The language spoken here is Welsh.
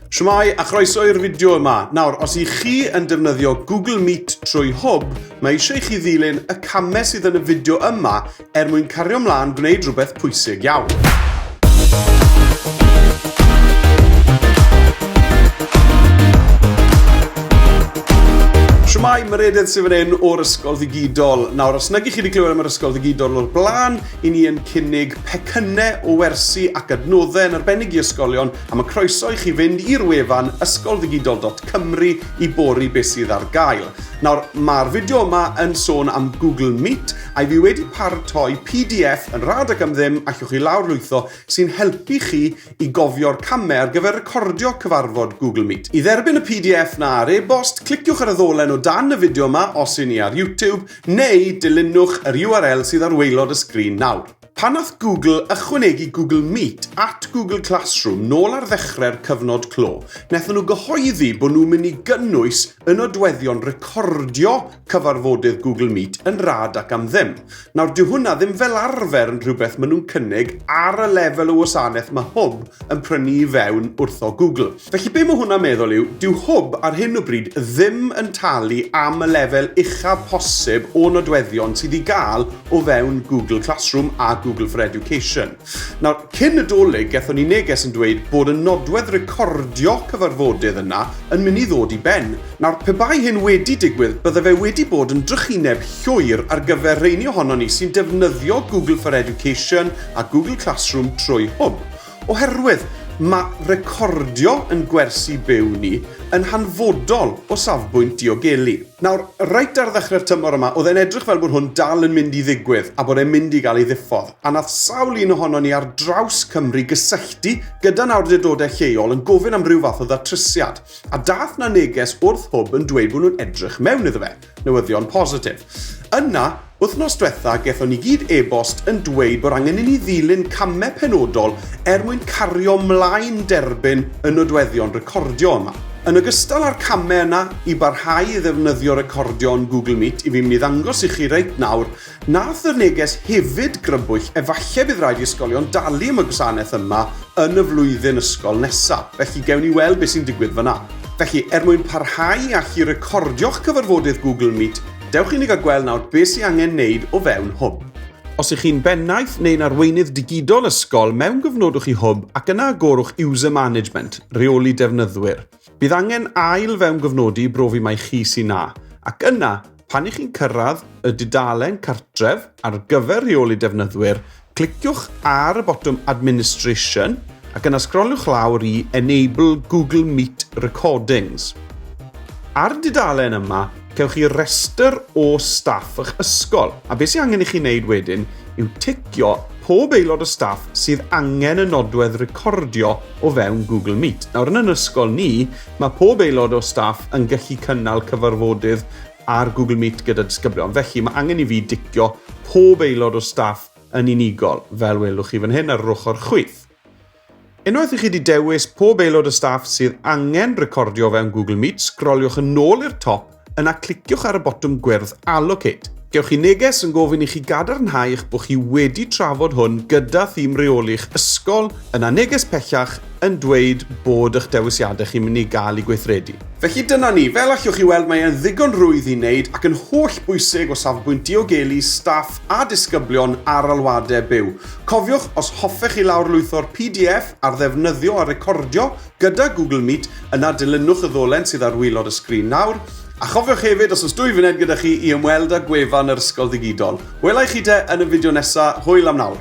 Shwmae a chroeso i'r fideo yma. Nawr, os i chi yn defnyddio Google Meet trwy hwb, mae eisiau i chi ddilyn y camau sydd yn y fideo yma er mwyn cario mlaen gwneud rhywbeth pwysig iawn. Shwmae, mae'r edydd sy'n fan hyn o'r Ysgol Ddigidol. Nawr, os nag i chi wedi clywed am yr Ysgol Ddigidol o'r blaen, i ni yn cynnig pecynnau o wersi ac adnoddau yn arbennig i ysgolion A mae croeso i chi fynd i'r wefan ysgolddigidol.cymru i bori beth sydd ar gael. Nawr, mae'r fideo yma yn sôn am Google Meet, a i fi wedi paratoi pdf yn rad ac am ddim allwch chi lawr lwytho sy'n helpu chi i gofio'r camau ar gyfer recordio cyfarfod Google Meet. I dderbyn y pdf na ar e-bost, cliciwch ar y ddolen o dan y fideo yma os y'n ni ar YouTube, neu dilynwch yr URL sydd ar waelod y sgrin nawr. Pan nath Google ychwanegu Google Meet at Google Classroom nôl ar ddechrau'r cyfnod clo, nethon nhw gyhoeddi bod nhw'n mynd i gynnwys y nodweddion recordio cyfarfodydd Google Meet yn rad ac am ddim. Nawr, dyw hwnna ddim fel arfer yn rhywbeth maen nhw'n cynnig ar y lefel o wasanaeth mae Hwb yn prynu i fewn wrtho Google. Felly be mae hwnna'n meddwl yw, dyw hwb ar hyn o bryd ddim yn talu am y lefel uchaf posib o nodweddion sydd i gael o fewn Google Classroom a Google for Education. Nawr, cyn y dolyg, gethon ni neges yn dweud bod y nodwedd recordio cyfarfodydd yna yn mynd i ddod i ben. Nawr, pe bai hyn wedi digwydd, bydde fe wedi bod yn drychineb llwyr ar gyfer rheini ohonon ni sy'n defnyddio Google for Education a Google Classroom trwy hwb. Oherwydd mae recordio yn gwersi byw ni yn hanfodol o safbwynt diogelu. Nawr, reit ar ddechrau'r tymor yma, oedd e'n edrych fel bod hwn dal yn mynd i ddigwydd a bod e'n mynd i gael ei ddiffodd, a nath sawl un ohonon ni ar draws Cymru gysylltu gyda'n awrdurdodau lleol yn gofyn am ryw fath o ddatrysiad, a dath 'na neges wrth hwb yn dweud bod nhw'n edrych mewn iddo fe. Newyddion positif. Yna, wythnos dwetha gethon ni gyd e-bost yn dweud bod angen i ni ddilyn camau penodol er mwyn cario mlaen derbyn y nodweddion recordio yma. Yn ogystal â'r camau yna i barhau i ddefnyddio recordio yn Google Meet i fi myn i ddangos i chi reit nawr Nath y neges hefyd grybwyll efalle bydd rhaid i ysgolion dalu am y gwasanaeth yma yn y flwyddyn ysgol nesa, felly gewn ni weld beth sy'n digwydd fanna. Felly, er mwyn parhau â chi recordio'ch cyfarfodydd Google Meet, dewch i ni gael gweld nawr beth sy'n angen neud o fewn Hwb. Os ych chi'n bennaeth neu'n arweinydd digidol ysgol, mewngyfnodwch i Hwb ac yna agorwch User Management, Rheoli Defnyddwyr. Bydd angen ail-fewngyfnodi i brofi mai chi sy'n 'na', ac yna, Pan i chi'n cyrraedd y dudalen cartref ar gyfer rheoli defnyddwyr, cliciwch ar y botwm Administration ac yna sgroliwch lawr i Enable Google Meet Recordings. Ar dudalen yma, cewch chi restr o staff eich ysgol, a beth sy'n angen i chi wneud wedyn yw ticio pob aelod o staff sydd angen y nodwedd recordio o fewn Google Meet. Nawr yn yn ysgol ni, Mae pob aelod o staff yn gallu cynnal cyfarfodydd ar Google Meet gyda disgyblion, felly mae angen i fi dicio pob aelod o staff yn unigol, fel welwch chi fan hyn ar yr ochr chwith. Unwaith i chi wedi dewis pob aelod o staff sydd angen recordio fewn Google Meet, sgroliwch yn ôl i'r top Yna cliciwch ar y botwm gwyrdd Allocate. Gewch chi neges yn gofyn i chi gadarnhau eich bod chi wedi trafod hwn gyda thîm reoli'ch ysgol, yna neges pellach yn dweud bod eich dewisiadau chi'n mynd i gael eu gweithredu. Felly dyna ni, fel allwch chi weld mae e'n ddigon rwydd i wneud ac yn holl bwysig o safbwynt diogelu staff a disgyblion ar alwadau byw. Cofiwch, os hoffech chi lawrlwytho'r pdf ar ddefnyddio a recordio Gyda Google Meet, yna dilynwch y ddolen sydd ar waelod y sgrin nawr, a chofiwch hefyd os oes dwy funed gyda chi i ymweld â gwefan yr Ysgol Ddigidol. Wela i chi de yn y fideo nesa, hwyl am nawr!